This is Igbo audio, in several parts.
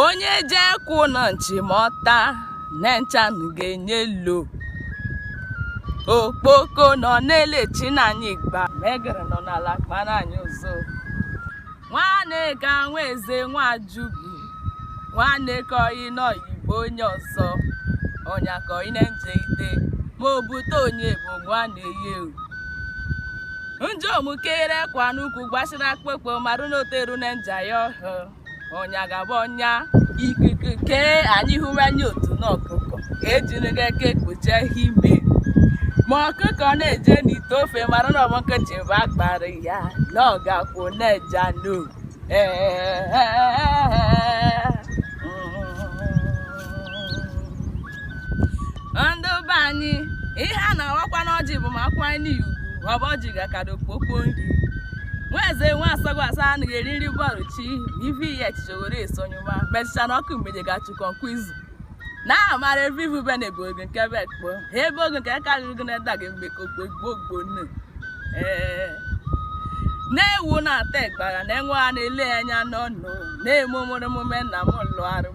onye je kwụ na nchimọta na nchanụ ga-enye lo okpoko nọ na-elechi na anyị gba megere nọ n'ala kpara anyị ụzọ nwanne ga nwa eze nwa Ajogwu nwanne ka ọyị na oyibo onye ọzọ ọnya ka ọyị na-enje ide ma o bute onye bụ nwanne ya ewu njọ omukere kwa n'ukwu gbasịrị akpụkpọ marụ na o teru na nja ya ọhụụ ọnya gaba ọnya ikuku kee anyị hụrụ anya otu na ọkụkọ ka ejiri gị aka ekpuchi ha ime ma ọkụkọ na-eje n'ite ofe mara na ọ bụ nkịtị bụ akpara ya na ọ ga-akwụ na-eja no ee ndị be anyị ihe a na-awakwa n'ọjị bụ ma a kwanye nị ya ugwu ọ bụ ọjị gakara okpokpo nri nwa eze nwa Asogwa sị anaghị eri nri bọrụchi na ife iyi echiche were esonyụma mechaa na ọkụ mgbede ga-achụkọ nkwa izu na amara ebe ivu be na-ebu oge nke be ekpo ha ebe oge nke karịrị gị na-eda gị mgbe ka okpo egbo ogbo nne ee nne ewu na-ata ịgbara na nwa ya na-ele ya anya n'ọnụ na-eme omume na m lụọ arụ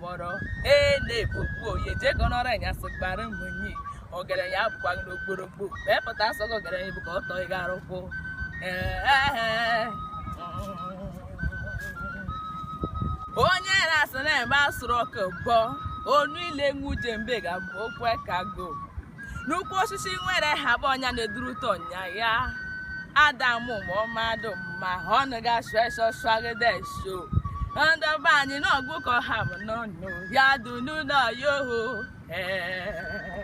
kpọrọ ee na-ekpokpu onye jee ka ọ nọrọ anyasị gbara m nyi ọgaranya abụkwa gị n'ogborogbo wee pụta asọ gị ọgaranya bụ ka ọ tọọ gị arụkwụ onye na-asị na-eme asụrụ ọka bọ onu ile nwu jembe ga-abụ okwu ka go n'ukwu osisi nwere ha bụ ọnya na-edurute ọnya ya adamụ ma ọmadụ ma ha ọnụ ga-asụ eso swagide eso ndị be anyị n'ọgụ ka ọha bụ n'ọnụ ya dụ n'ụlọ ya oho ee